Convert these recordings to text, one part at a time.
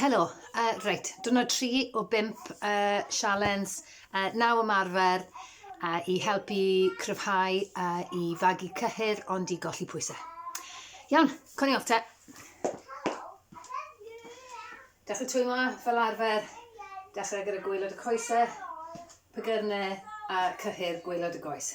Helo, uh, reit, dyna tri o bimp uh, sialens uh, naw ymarfer uh, i helpu cryfhau uh, i fagu cyhyr ond i golli pwysau. Iawn, coni off te. Dechrau twy ma, fel arfer, dechrau gyda gwylod y coesau, pygyrnau a cyhyr gwylod y goes.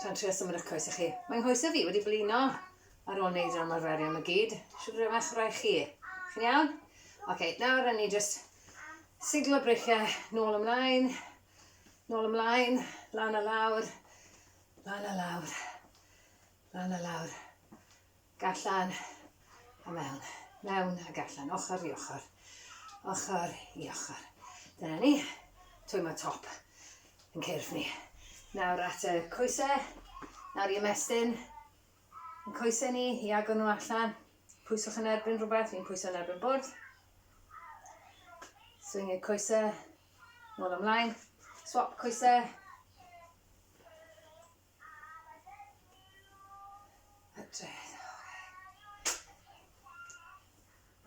Tra'n trio symud eich coesau chi. Mae nghoesau fi wedi blino ar ôl neud yr ymarferion ma gyd. Shwd rwy'n eich rhai chi? Chi'n iawn? Ok, nawr rhaid ni just siglo breichiau nôl ymlaen, nôl ymlaen, lan a lawr, lan a lawr, lan a lawr. Gallan a mewn, mewn a gallan, ochr i ochr, ochr i ochr. Dyna ni. Twy mae top yn cyrff ni. Nawr at y coesau, nawr i ymestyn. Yn coesau ni, i agor nhw allan. Pwyswch yn erbyn rhywbeth, fi'n pwyso yn erbyn bwrdd. Swing i'r coesau, nôl ymlaen. Swap coesau,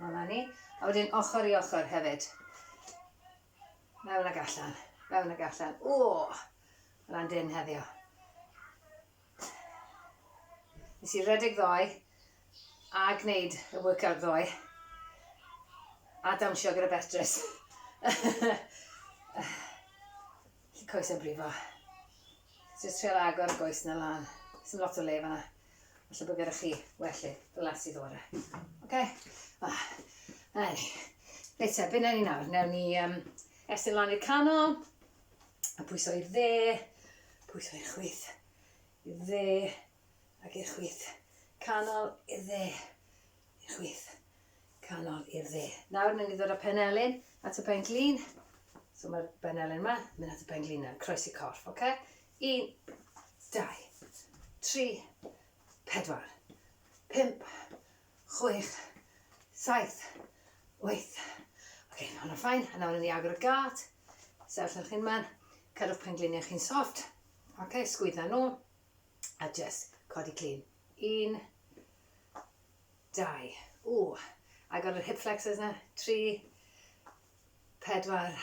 Dyna ni. A wedyn ochr i ochr hefyd. Mewn ag allan. Mewn ag allan. O! Hwna'n dyn heddiw. Nes i redeg ddoe a gwneud y workout ddoe a dawnsio gyda Beatrice. Lli coes yn brifo. Jyst trial agor y goes na lan. Sdim lot o le fanna. Falle bod gyda chi wellydd glas i ddod â. Oce? Ah, ai. Reit te, be newn ni nawr? Newn ni um, estyn lan i'r canol, a pwyso i'r dde, pwyso i'r chwith, i'r dde, ac i'r chwith. Canol, i'r dde, i'r chwith. canol i'r dde. Nawr mynd i ddod â penelin at y pen glin. So mae'r benelin yma, mynd at y pen glin nawr, croesi corff, oce? Okay? Un, dau, tri, pedwar, pump, chwech, saith, wyth. Oce, okay, mae hwnna'n ffain. A nawr yn i agor y gart, sefyll yn chi'n man, cadw'ch pen gliniau chi'n soft. Oce, okay, sgwydda nhw, a just codi glin. Un, Dau. Ww! Agor yr hip flexors 'na. Tri. Pedwar.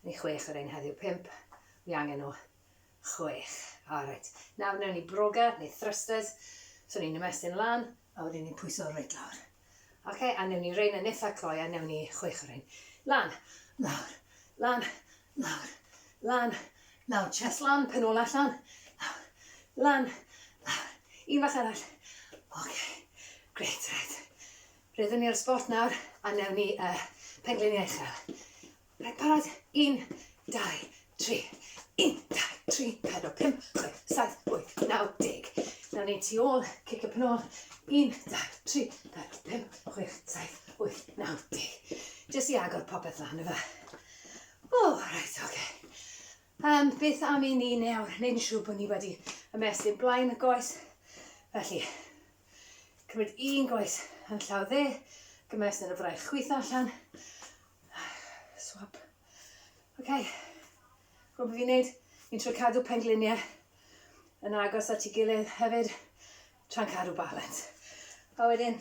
Ni chwech o rein heddiw. Pump. Wi angen nhw. Chwech. Alright. Nawr newn ni broga, neu thrusters. So ni'n ymestyn lan, a wedyn ni'n pwyso reit lawr. Oce, a newn ni rein yn itha cloi, a newn ni chwech o rein. Lan. Lawr. Lan. Lawr, lan, lawr, chest lan, pen ôl allan, lawr, lan, lawr, un fach arall. Ok, great, right. Rydyn ni ar y spot nawr, a newn ni uh, pengliniau uchel. Rhaid parod, un, dau, tri, un, dau, tri, pedro, pum, chwe, saith, wyth, naw, deg. Newn ni tu ôl, cic y penol, un, dau, tri, pedro, pum, chwe, saith, wyth, naw, deg. Jyst i agor popeth lan, efe. O, reit, oce. Okay. Um, beth am i ni nawr wneud yn siŵr bod ni wedi ymestyn blaen y goes. Felly, cymryd un goes yn llaw dde, gymest yn y fraich chwyth allan. Swap. Oce. Okay. Gwybod beth fi'n neud? Fi'n trwy cadw pengliniau yn agos at ei gilydd hefyd, tra'n cadw balans. A wedyn,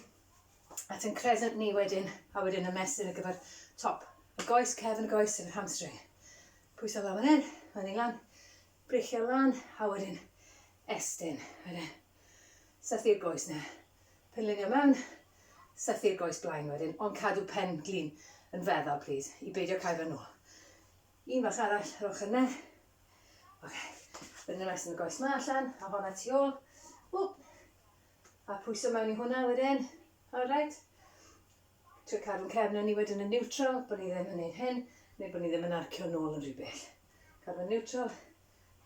at ein crescent ni wedyn, a wedyn y mesur ar gyfer top y goes, cefn y goes, sef yr hamstring. Pwyso lan fan hyn, fan hyn lan, brichio lan, a wedyn estyn. Wedyn, sythu'r goes na. Penlinio mewn, sythu'r goes blaen wedyn, ond cadw pen glin yn feddal, please, i beidio cael fan nhw. Un bach arall ar ochr yna. Oce. Okay. Wedyn ymestyn y goes ma allan, a honna tu ôl. Ww. A pwyso mewn i hwnna wedyn. Alright? Trio cadw'n cefn yn ni wedyn yn neutral, bod ni ddim yn neud hyn, neu bod ni ddim yn arcio nôl yn rhy bell. Cadw'n neutral,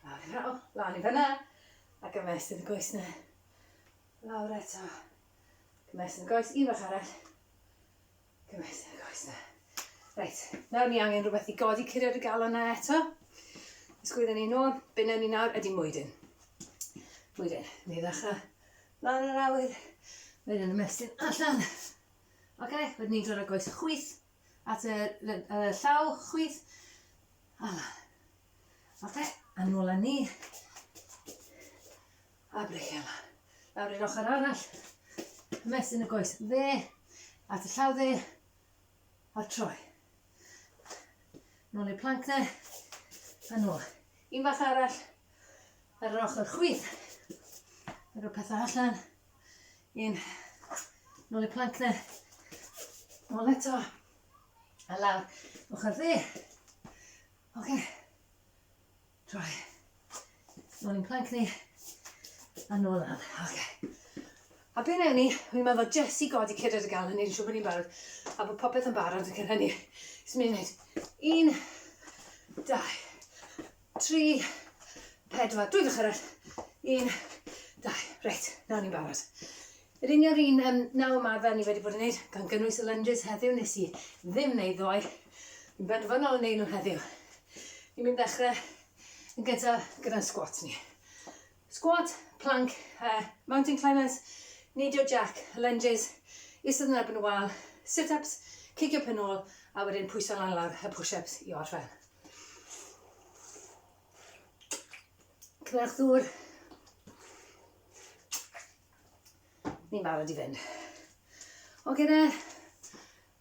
a fyna, o, lan i fyna, a gymest yn y goes na. Lawr eto. Gymest yn y goes, un fach arall. Gymaint yn y goes na. Reit, nawr ni angen rhywbeth i godi curiad y galon na eto. Ysgwydden ni nôl, byn ni nawr ydy mwydyn. Mwydyn, ni ddechrau lan yr awyr, wedyn yn ymestyn allan. Oce, okay, wedyn ni'n dod â goes chwyth at y, y llaw chwyth. A lan. Oce, okay, a nôl â ni. A breichiau lan. Lawr i'r ochr arall. Ymestyn y goes dde, at y llaw dde, a troi. Nôl i'r planc dde, a nôl. Un bach arall, ar yr ochr chwith. Ar y pethau allan. Un, nôl i'r planc dde. Nôl eto. A lawr, ochr dde. Oce. Okay. Droi. Nôl i'n plank ni. A nôl lan. Okay. A be newn ni, fi'n meddwl jyst i godi cydred y galon, ni'n siŵr bod ni'n barod, a bod popeth yn barod ac yn hynny. Jyst mynd wneud. Un, dau, tri, pedwar. Dwy gych arall. Un, dau. Reit, nawr ni'n barod. Yr un yw'r un yym naw ymarfer ni wedi bod yn neud, gan gynnwys y lunges heddiw, nes i ddim neud ddoe. Fi'n benderfynol yn neud nhw heddiw. Fi'n mynd ddechre yn gyntaf gyda'n squat ni. Squat, plank, uh, mountain climbers, neidio jack, lunges, isod yn erbyn y wal, sit-ups, cicio pen ôl, a wedyn pwyso lan lawr y push-ups i orffen. Cymerwch ddŵr. Ni'n barod i fynd. O gyda,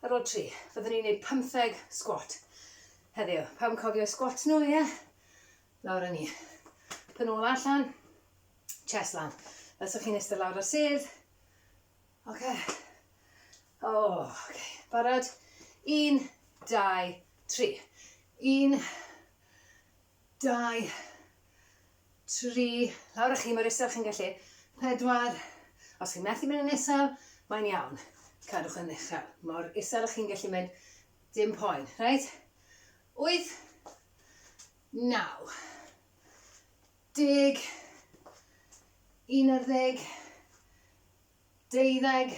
ar ôl tri, fyddwn ni'n gwneud pymtheg sgwat heddiw. Pam cofio sgwat nhw, ie? Lawr â ni. Pyn ôl allan, chest lan. Fel sa'ch chi'n eistedd lawr ar sedd. Oce. O, oce. Barod? Un, dau, tri. Un, Dau. Tri. Lawr â chi mor isel chi'n gallu. Pedwar. Os chi'n methu mynd yn isel, mae'n iawn. Cadwch yn uchel. Mor isel â chi'n gallu mynd. Dim poen. Reit? Wyth. Naw. Deg. Un ar ddeg. Deuddeg,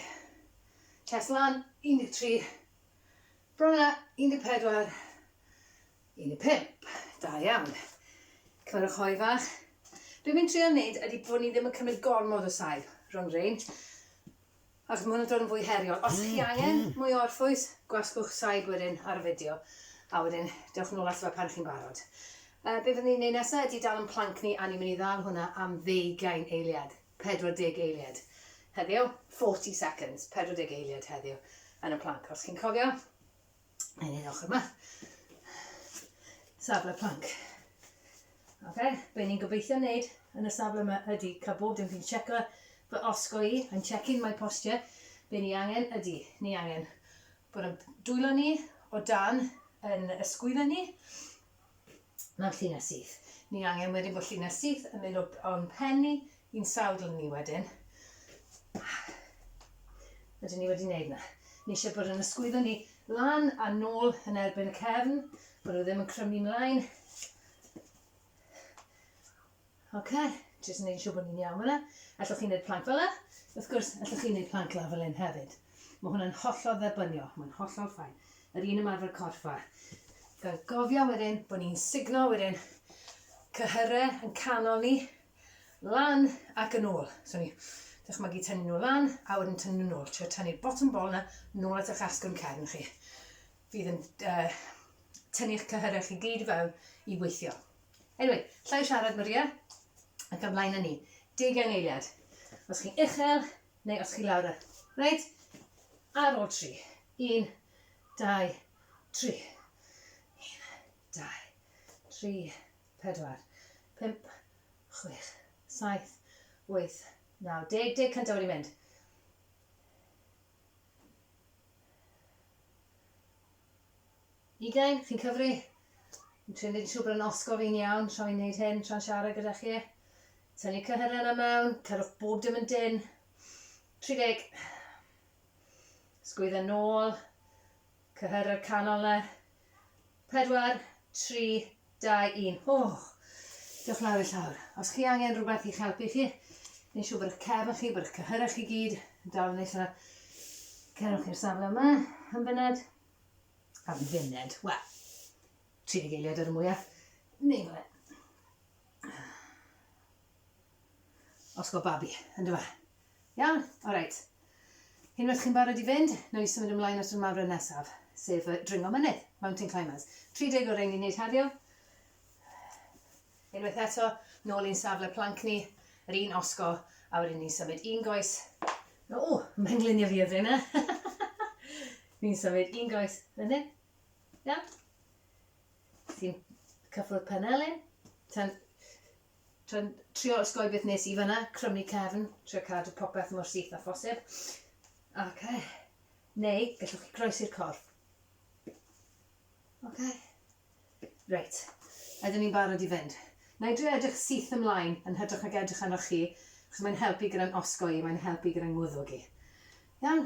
Test lan, 13, Bron a, 14, 15. Da iawn. Cymrwch hoi fach. Be fi'n trio wneud ydy bod ni ddim yn cymryd gormod o saib rhwng rein. Achos mae hwnna'n dod yn fwy heriol. Os chi angen mwy o orffwys, gwasgwch saib wedyn ar y fideo. A wedyn, dewch yn ôl ato fe pan chi'n barod. Uh, be fyddwn ni'n neud nesaf ydy dal yn planc ni a ni'n mynd i ddal hwnna am ddeugain eiliad. 40 eiliad heddiw, 40 seconds, 40 eiliad heddiw yn y planc. Os chi'n cofio, yn un ochr yma. Safle planc. Ok, be ni'n gobeithio wneud yn y safle yma ydy cael bob dim fi'n checo fy osgo i, yn checking my posture, be ni angen ydy, ni angen bod yn dwylo ni o dan yn ysgwyddo ni, Mae'n llinell syth. Ni angen wedyn bod llinell syth yn mynd o'n pen ni, i'n sawdl ni wedyn. Ydyn ni wedi gwneud na. Ni eisiau bod yn ysgwyddo ni lan a nôl yn erbyn y cefn, bod nhw ddim yn crymu mlaen. Ok, jyst yn neud yn siŵr bod ni'n iawn fan'na. Allwch chi neud planc fel'na? Wrth gwrs, allwch chi neud planc lawr fel hyn hefyd. Mae hwnna'n hollol dderbyniol, mae'n hollol ffain. Yr un ymarfer corff a. Gan gofio wedyn bod ni'n signo wedyn cyhyrau yn canol ni, lan ac yn ôl. So ni dychmygu tynnu nhw lan a wedyn tynnu nhw'n ôl. Trio tynnu'r bottom ball yna nôl at eich asgwrn cefn chi. Fydd yn uh, tynnu'ch cyhyrau chi gyd i fewn i weithio. Anyway, llai siarad Maria, ac ymlaen â ni. Deugain eiliad. Os chi'n uchel, neu os chi lawr y... Reit? Ar ôl tri. Un, dau, tri. Un, dau, tri, pedwar, pump, chwech, saith, wyth, naw, deg, deg cyntaf wedi mynd. Ugain, chi'n cyfri? Yn trio neud yn siŵr bod yn osgo fi'n iawn tra fi'n neud hyn, tra'n siarad gyda chi. Tynnu cyhyrau na mewn, cyrwch bob dim yn dyn. 30. Sgwydda nôl, cyhyrau'r canol na. 4, 3, 2, 1. O! Diolch lawr i llawr. Os chi angen rhywbeth i'ch helpu chi, neu'n siŵr bod eich cefn chi, bod eich cyhyrau chi gyd yn dal yn eich lle. Cerwch i'r safle yma, yn fyned. Am funud, wel, tri deg eiliad ar y mwyaf. Neu fel e. Osgo babi, yn dyfa. Iawn, all right. Unwaith chi'n barod i fynd, nawn ni symud ymlaen at yr ymarfer nesaf, sef y dringo mynydd, mountain climbers. 30 o'r ein ni'n neud heddiw. Unwaith eto, nôl i'n safle planc ni, yr un osgo, a wedyn ni'n symud un goes. O, mae'n glinio fi o fe yna. Fi'n symud un goes fan hyn. Iawn? Ti'n cyffwrdd penelin. Ti'n trio, trio osgoi beth nes i fanna, crymu cefn, trio cadw popeth mor syth a phosib. Ok. Neu, gallwch chi groesi'r corff. Ok. Reit. Ydyn ni'n barod i fynd. Na i drio edrych syth ymlaen yn hytrach nag edrych arnoch chi, achos mae'n helpu gyda'n osgoi i, mae'n helpu gyda'n ngwddwg i. Iawn?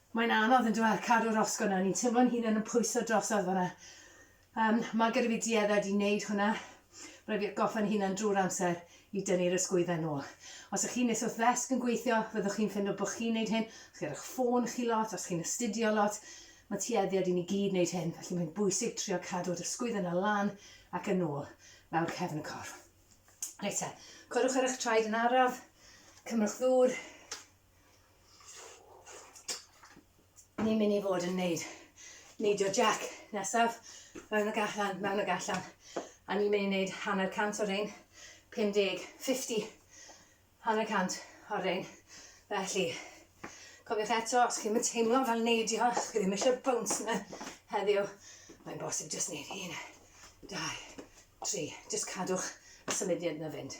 Mae'n anodd yndyw e, cadw'r osgo 'na, ni'n teimlo'n hunan yn pwyso drosodd fanna. Um, mae gyda fi duedded i wneud hwnna. Rhaid fi atgoffa'n hunan drwy'r amser i dynnu'r ysgwyddau nôl. Os ych chi'n nes wrth ddesg yn gweithio, fyddwch chi'n ffindo bod chi'n wneud hyn, os chi ar eich ffôn chi lot, os chi'n astudio lot, mae tueddiad i ni gyd wneud hyn, felly mae'n bwysig trio cadw yr ysgwydd yna lan ac yn ôl lawr cefn y corff. Reit te, codwch ar eich traed yn araf, cymrwch ddŵr, Ni'n mynd i fod yn neud neidio jack nesaf, mewn ag allan, mewn ag allan. A ni'n mynd i neud hanner cant o'r ein, 50, 50, hanner cant o'r ein. Felly, cofiwch eto, os chi'n mynd teimlo fel neidio, os chi ddim eisiau bounce yna heddiw, mae'n bosib jyst neud un, dau, tri, jyst cadwch y symudiad yna fynd.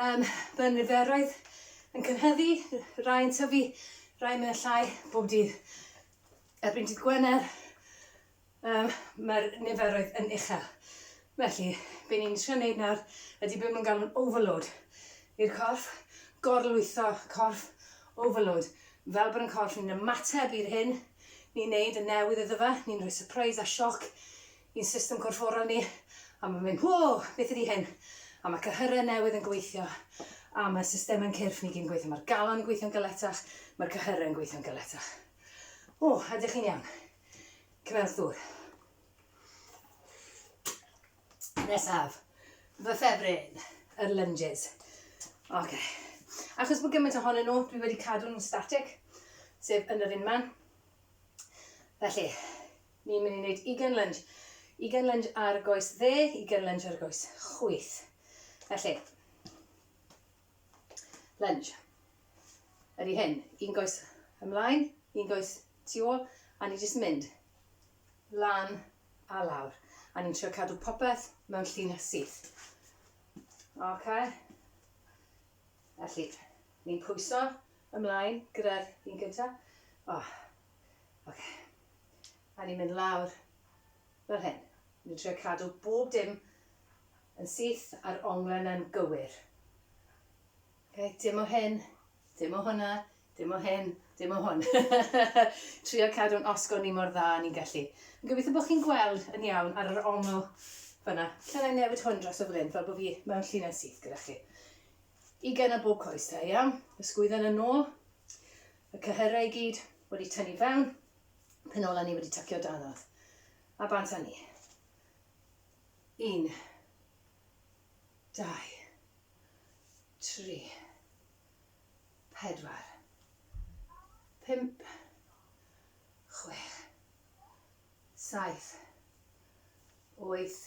Yym, mae niferoedd yn cynhyddu, rai yn tyfu, rai mewn llai bob dydd. Erbyn dydd Gwener, um, mae'r niferoedd yn uchel. Felly, be ni'n trio wneud nawr ydy beth mae'n galw'n overload i'r corff, gorlwytho corff, overload. Fel bod yn corff ni'n ymateb i'r hyn ni'n neud, y newydd iddo fe, ni'n rhoi surprise a sioc i'n system corfforol ni, a mae'n mynd, whoa, beth ydy hyn? A mae cyhyrau newydd yn gweithio, a mae systemau'n cyrff ni gyd yn gweithio, mae'r galon yn gweithio'n galetach, mae'r cyhyrau yn gweithio'n galetach. O, ydych chi'n iawn? Cymerwch dŵr. Nesaf, fy ffefryn, yr lunges. Oce. Okay. Achos bod gymaint ohonyn nhw, dwi wedi cadw nhw'n static, sef yn yr unman. Felly, Ni'n mynd i wneud ugain lunge. Ugain lunge ar goes dde, ugain lunge ar goes chwith. Felly, lunge. Ydy hyn, un goes ymlaen, un goes tu ôl, a ni jyst mynd lan a lawr. A ni'n trio cadw popeth mewn llun syth. Ok? Felly, ni'n pwyso ymlaen gyda'r un gyntaf. Oh. Ok. A ni'n mynd lawr fel hyn. Ni'n trio cadw bob dim yn syth a'r onglau na'n gywir. Okay, dim o hyn, dim o hwnna, dim o hyn, dim o hwn. trio cadw'n osgo ni mor dda ni'n gallu. Yn gobeithio bod chi'n gweld yn iawn ar yr ongl fyna. Lle na newid hwn dros y flyn fel bod fi mewn llinell syth gyda chi. Ugain o bob coes da, iawn? Ysgwydden yn ôl. Y cyhyrau i gyd wedi tynnu fewn, penolau ni wedi tycio danodd. A bant â ni. Un. Dau. Tri. Pedwar. Pump. Chwech. Saith. Wyth.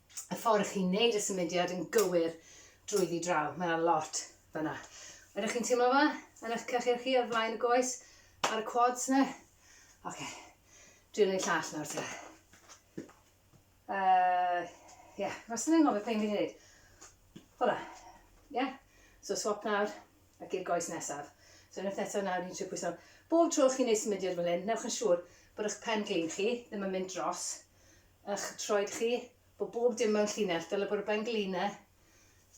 y ffordd chi'n neud y symudiad yn gywir drwyddi draw. Mae yna lot fyna. Ydych chi'n teimlo fe? Yn eich cychir chi ar flaen y goes? Ar y quads ne? Oce. Okay. Dwi'n gwneud llall nawr te. Uh, yeah, rhaid yn anghofio peth fi'n gwneud. Hola. Yeah. So swap nawr ac i'r goes nesaf. So unwaith eto nawr ni'n trio pwyso. Bob tro chi'n neud symudiad fel hyn, newch yn siŵr bod eich pen glin chi ddim yn mynd dros ych troed chi, bod bob dim mewn llinell, dyle bod y benglina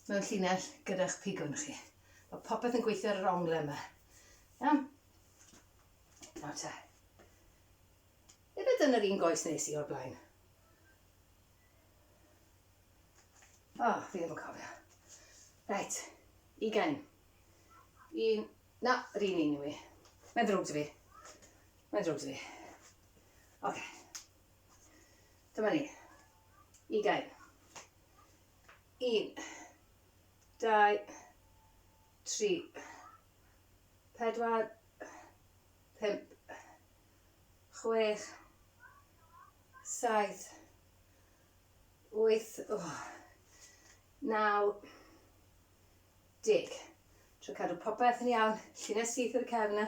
mewn llinell gyda'ch pigwn chi. Mae popeth yn gweithio ar yr ongle yma. Iawn? Nawr te. Efo dyn yr un goes nes i o'r blaen. O, oh, fi ddim yn cofio. Reit, ugain. Un, na, yr un un i fi. Mae'n ddrwg dy fi. Mae'n ddrwg dy fi. Oce. Okay. Dyma ni. Ugain. Un. Dau. Tri. Pedwar. Pump. Chwech. Saith. Wyth. Oh. Naw. Deg. Tro cadw popeth yn iawn. Llinell syth i'r cefn yna.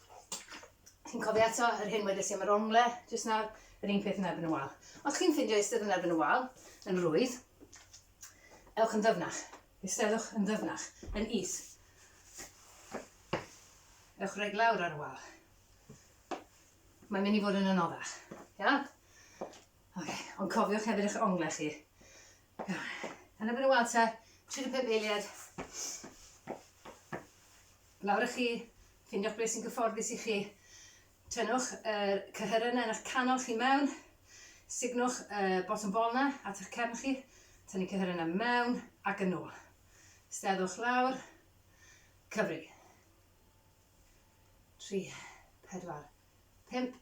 Chi'n cofio eto yr hyn wedes i am yr ongle jyst nawr? Yr un peth yn erbyn y wal. Os chi'n ffindio eistedd yn erbyn y wal yn rwydd, ewch yn ddyfnach. Eisteddwch yn ddyfnach, yn is. Ewch rhaid lawr ar y wal. Mae'n mynd i fod yn anoddach. Iawn? Oce, okay. ond cofiwch hefyd eich ongle chi. Yn y mynd weld te, 35 eiliad. Lawr ych chi, ffindiwch beth sy'n gyfforddus i chi. Tynnwch y er cyhyrynau yn eich canol chi mewn. Signwch y er bottom bol na at eich cefn chi. Tynnu cyhyrynau mewn ac yn ôl. Steddwch lawr. Cyfri. 3, 4, 5.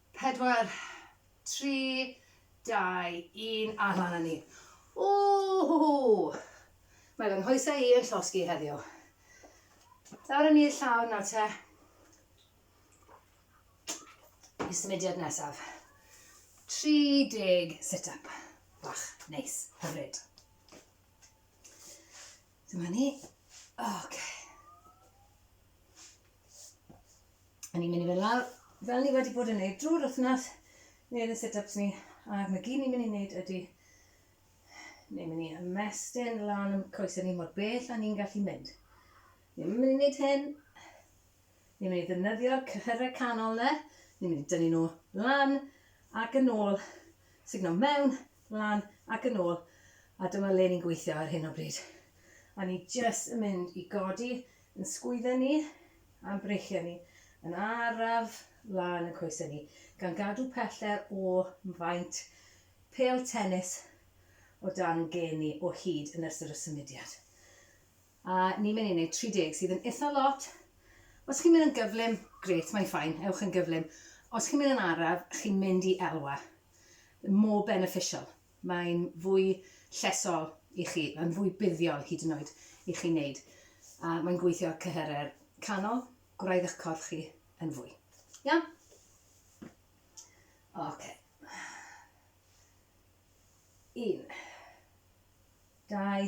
Pedwar, tri, dau, un, a mlan â ni. Ww! Mae fy nghoesau i yn llosgi heddiw. Dawr yn i'r llawr nawr te. I symudiad nesaf. 30 sit-up. Bach, neis, hyfryd. Dyma ni. Ok. A ni'n mynd i fynd lawr, fel ni wedi bod yn neud drwy'r wythnos, neud y sit-ups ni, ac mae gyd ni'n mynd i neud ydy, ni'n mynd i ymestyn lan am coesau ni mor bell a ni'n gallu mynd. Ni'n mynd i neud hyn, Ni'n mynd i ddefnyddio'r cyhyrau canol yna, ni'n mynd i dynnu nhw lan ac yn ôl, sugno mewn, lan ac yn ôl, a dyma le ni'n gweithio ar hyn o bryd. A ni jyst yn mynd i godi yn sgwydden ni a'n breichiau ni yn araf lan yn coesau ni, gan gadw pellter o faint pêl tenis o dan ein gên ni o hyd yn ystod y symudiad. A ni'n mynd i wneud 30 sydd yn itha lot. Os chi'n mynd yn gyflym, grêt, mae'n ffain, ewch yn gyflym. Os chi'n mynd yn araf, chi'n mynd i elwa. More beneficial. Mae'n fwy llesol i chi, mae'n fwy buddiol hyd yn oed i chi wneud. A mae'n gweithio ar cyhyrau'r canol, gwraidd eich corff chi yn fwy. Iawn? Oce. Okay. Un. Dau.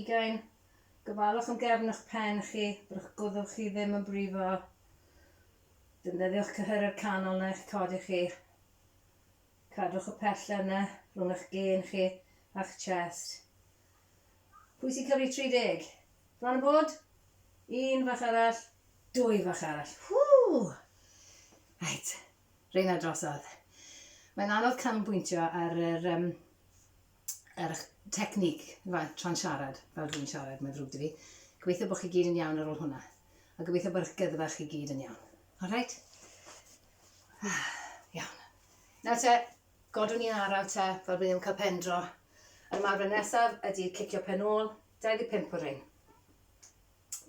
Ugain, gofalwch am gefn eich pen chi, byddwch gwddwch chi ddim yn brifo. Defnyddiwch cyhyredd canol na eich codi chi. Cadwch y pellter yna rhwng eich gên chi a'ch chest. Pwy sy'n cyfri 30? Bron yn bod? Un fach arall, dwy fach arall. Whoo! Right, Reina drosodd. Mae'n anodd canolbwyntio ar yr, um, ar eich technique, tra'n siarad, fel dwi'n siarad, mae'n ddrwg dy fi. Gobeithio bod chi gyd yn iawn ar ôl hwnna. A gobeithio bod eich gydfa chi gyd yn iawn. All right? Ah, iawn. Nawr te, godwn ni'n araf te, fel bydd ddim cael pen dro. Yr ymarfer nesaf ydy cicio pen ôl, 25 o rein.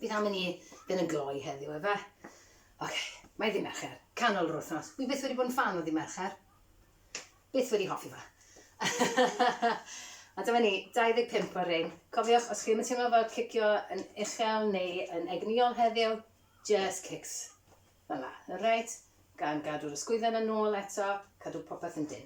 Bydd am i ni fynd yn gloi heddiw, efe? Ok, mae ddi Mercher, canol yr wythnos. Wi byth wedi bod yn fan o ddi Mercher. Byth wedi hoffi fe. A dyma ni, 25 o'r rhain. Cofiwch, os chi'n teimlo fel cicio yn uchel neu yn egnïol heddiw, just kicks. Fel la, right? Gan gadw'r ysgwydden yn ôl eto, cadw popeth yn dyn.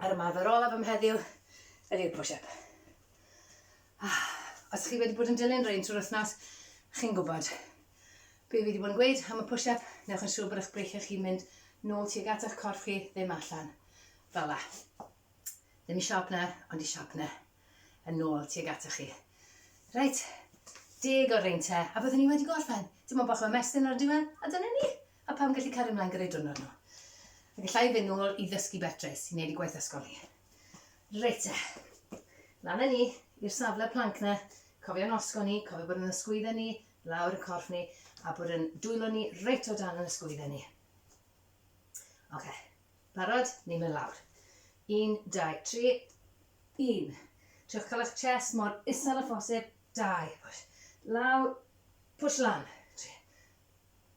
Yr ymarfer olaf am heddiw ydy'r push-up. Ah, os chi wedi bod yn dilyn rhain trwy'r wythnos, chi'n gwybod be fi wedi bod yn gweud am y push-up, newch yn siŵr bod eich breichiau chi'n mynd nôl tuag at eich corff chi, ddim allan. Fel la. Ddim i siop na, ond i siop na. Yn nôl tuag at chi. Reit, deg o'r reinte, a byddwn ni wedi gorffen. Dim ond bach o ymestyn ar y diwedd, a dyna ni. A pam gallu cario mlaen gyda'i diwrnod nhw? A gallai fynd nôl i ddysgu Beatrice, i wneud i gwaith ysgol hi. Reit te. Lan â ni, i'r safle planc na, cofio'n osgo ni, cofio bod yn ysgwydda ni, lawr y corff ni, a bod yn dwylo ni reit o dan yn ysgwydda ni. Oce, okay. barod? Ni'n mynd lawr. Un, dau, tri. Un. Trewch cael eich chest mor isel a phosib. Dau. Push. Lawr. Push lan. Tri.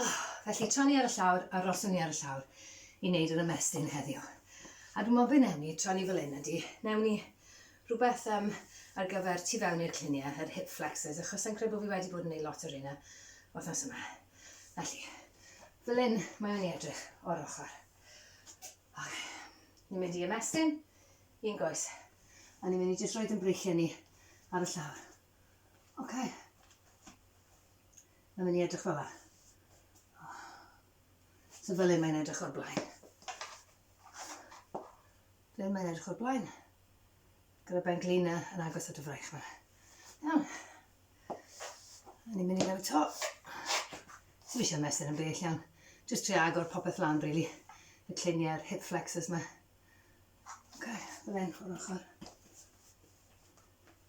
Oh, felly, tra ni ar y llawr, aroswn ni ar y llawr i wneud yr ymestyn heddiw. A dwi'n meddwl beth ni, tra ni fel un ydy, newn ni rhywbeth um, ar gyfer tu fewn i'r cliniau, yr hip flexors, achos sa'n credu bod fi wedi bod yn ei lot o'r un wythnos yma. Felly, fel un mae o'n edrych o'r ochr. Ok, ni'n mynd i ymestyn, un goes, a ni'n mynd i jyst roed yn breichiau ni ar y llawr. Ok. Mae'n mynd i edrych fel la. Oh. So fel un mae'n edrych o'r blaen. Fel un mae'n edrych o'r blaen. Gyda ben glina yn agos at y fraich yma. Iawn. A ni'n mynd i gael y to. Ti'n eisiau mesur yn bell iawn. Just tri agor popeth lan, really. Y cliniau'r hip flexors yma. Ok, fel un o'r ochr.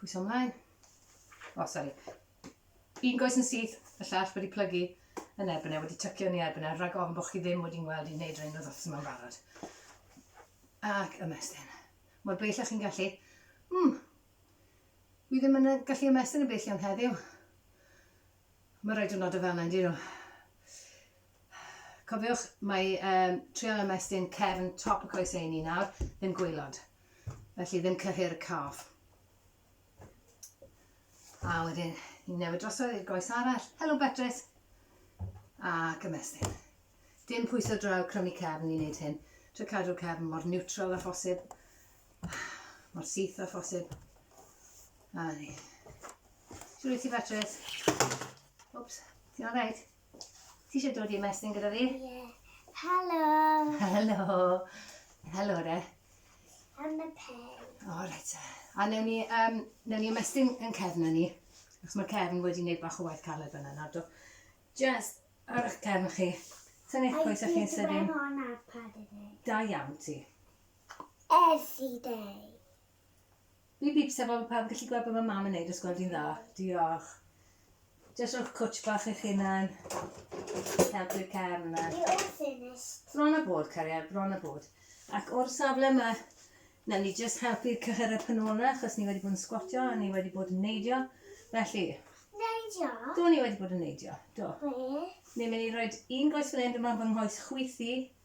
Pwyso ymlaen. O, oh, sori. Un goes yn syth, y llall wedi plygu yn erbyn e, wedi tycio ni erbyn e, rhag ofn bod chi ddim wedi'n gweld i wneud rhain oedd othos yma'n barod. Ac ymestyn. Mor bell chi'n gallu. Hmm. Wi ddim yn gallu ymestyn y bell iawn heddiw. Mae rhaid o'n nod o fel yna, dyn nhw. Cofiwch, mae um, trial ymestyn cefn top y coes ei ni nawr, ddim gwylod. Felly ddim cyhyr y calf. A wedyn ni'n newid drosodd i'r goes arall. Helo Beatrice! A gymestyn. Dim pwyso draw crymu cefn i wneud hyn. Try cadw'r cefn mor neutral a phosib. Mor syth a phosib. A ni. Siwr i ti Beatrice? Oops, ti'n all right? Ti eisiau dod i ymestyn gyda fi? Ie. Helo! Helo! Helo, re. Am y pen. O, reit. A newn ni, um, newn ni ymestyn yn cefn ni. Ac mae cefn wedi gwneud bach o waith caled fyna nawr, do. Just ar eich cefn chi. Sa'n eich pwys a'ch chi'n sydyn. Da iawn ti. Every day. Bîp bîp sef fel pawb yn gallu gweld be mae mam yn neud os gweld hi'n dda. Diolch. Jyst rhowch cwtsh bach i'ch hunan. Helpu'r cefn yna. You're all finished. Bron a bod, cariad, bron a bod. Ac o'r safle yma, newn ni jyst helpu'r cyhyreb yn ôl yna, achos ni wedi bod yn sgwatio a ni wedi bod yn neidio. Felly... Neidio? Do, ni wedi bod yn neidio. Do. Be? Ni'n mynd i roi un goes fan hyn, dyma fy nghoes chwith i.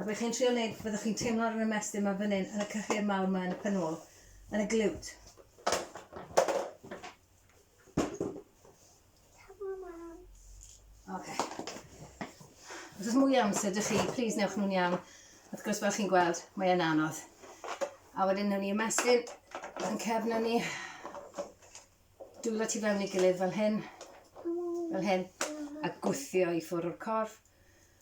A be chi'n trio neud, fyddwch chi'n teimlo ar yr ymestyn ma fan hyn, yn y cyhyr mawr ma yn y pen ôl, yn y glute. Ok. Os oes mwy amser dych chi, please newch nhw'n iawn. Wrth gwrs, fel chi'n gweld, mae e'n anodd. A wedyn newn ni ymestyn yn cefn ni. Dwylo ti fewn i gilydd fel hyn, fel hyn, a gwthio i ffwrdd o'r corff.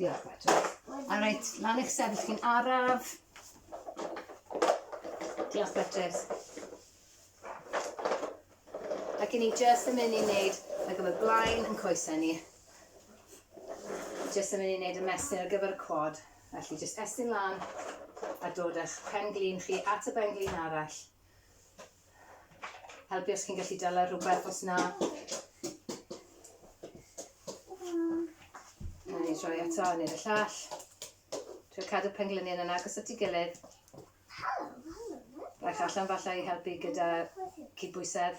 Diolch, Patrick. A reit, lan eich sefyll chi'n araf. Diolch, Patrick. Ac i ni just yn mynd i wneud ar gyfer blaen yn coesau ni. Just yn mynd i wneud y mesur ar gyfer y quad. Felly, just estyn lan a dod â'ch pen glin chi at y ben glin arall. Helpu os chi'n gallu dala rhywbeth os na. Rhaid ni droi eto, neu y llall. Dwi'n cadw penglynion yn agos at ei gilydd. Rhaid allan falle i helpu gyda cydbwysedd.